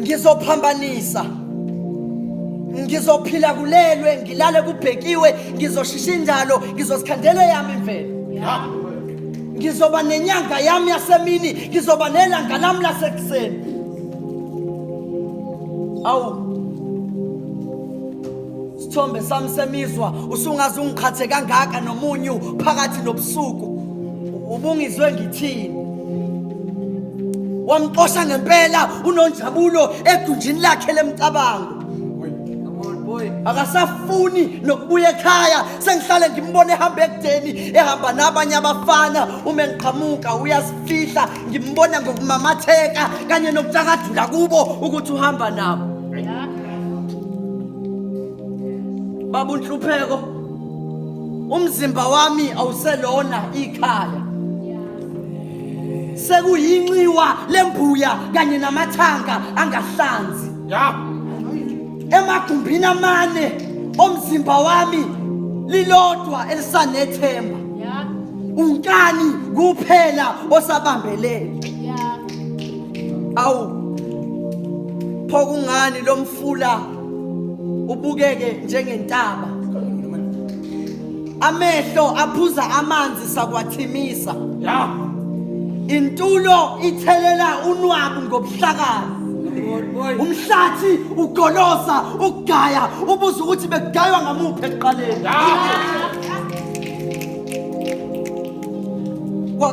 ngizophambanisa ngizophila kulelwe ngilale kubhekiwe ngizoshisha indalo ngizozikhandela yami imvelo ngizoba nenyanga yami yasemini ngizoba nelanga lami lasekuseni awu Isithombe sami semizwa usungaze ungiqhathe kangaka nomunyu phakathi nobusuku. Ubungizwe ngithini? Wamxosha ngempela unonjabulo egunjini lakhe lemcabango. akasafuni nokubuya ekhaya sengihlale ngimbona ehamba ekudeni ehamba nabanye abafana uma engiqhamuka uyasifihla ngimbona ngokumamatheka kanye nokutakadula kubo ukuthi uhamba nabo baba unhlupheko umzimba wami awuselona ikhaya sekuyinxiwa lembuya kanye namathanga angahlanzi ya emagumbini amane omzimba wami lilodwa elisanethemba unkani kuphela osabambelele awu pho kungani lo mfula ubukeke njengentaba amehlo aphuza amanzi sakwathimisa ya intulo ithelela unwabu ngobuhlakani umhlathi ugolosa ugaya ubuza ukuthi bekugaywa ngamuphi ekuqaleni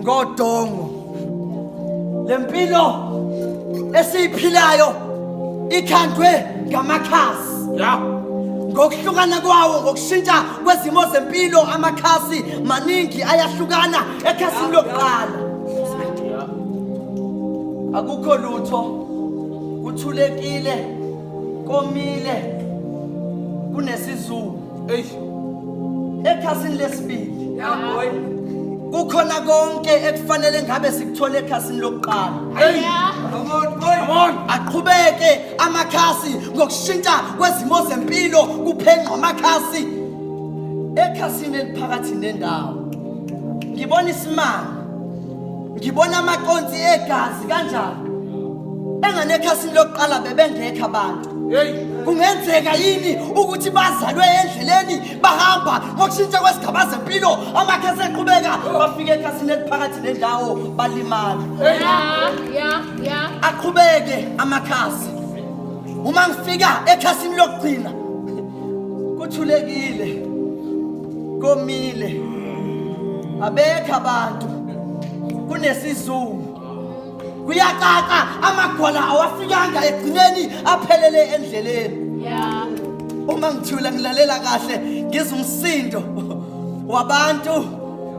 ngodongo lempilo esiyiphilayo ikhandwe ngamakhasi ya ngokuhlukana kwawo ngokushintsha kwezimo zempilo amakhasi maningi ayahlukana ekhasini lokuqala akukho lutho kuthulekile komile kunesizulu Eish. Ekhasini lesibili. Ya boy. Kukhona konke ekufanele ngabe sikuthole ekhasini lokuqala. Hey. Come on boy. Come on. Aqhubeke amakhasi ngokushintsha kwezimo zempilo kuphenqwa amakhasi. Ekhasini eliphakathi nendawo. Ngibona isimanga ngibona amaconsi egazi kanjani enganekhasini lokuqala bebengekho abantu kungenzeka yini ukuthi bazalwe endleleni bahamba ngokushintsha kwesigaba zempilo amakhasi eqhubeka bafike ekhasini eliphakathi nendawo balimala aqhubeke amakhasi uma ngifika ekhasini lokugcina kuthulekile komile abekho abantu kunesizungu kuyacaca amagwala awafikanga egcineni aphelele endleleni uma ngithula ngilalela kahle ngizumsindo wabantu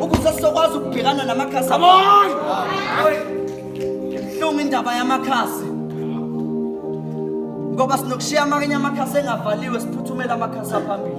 ukuze sizokwazi ukubhekana namakhasi Come on! ibuhlungu indaba yamakhasi ngoba sinokushiya amanye amakhasi engavaliwe siphuthumela amakhasi aphambili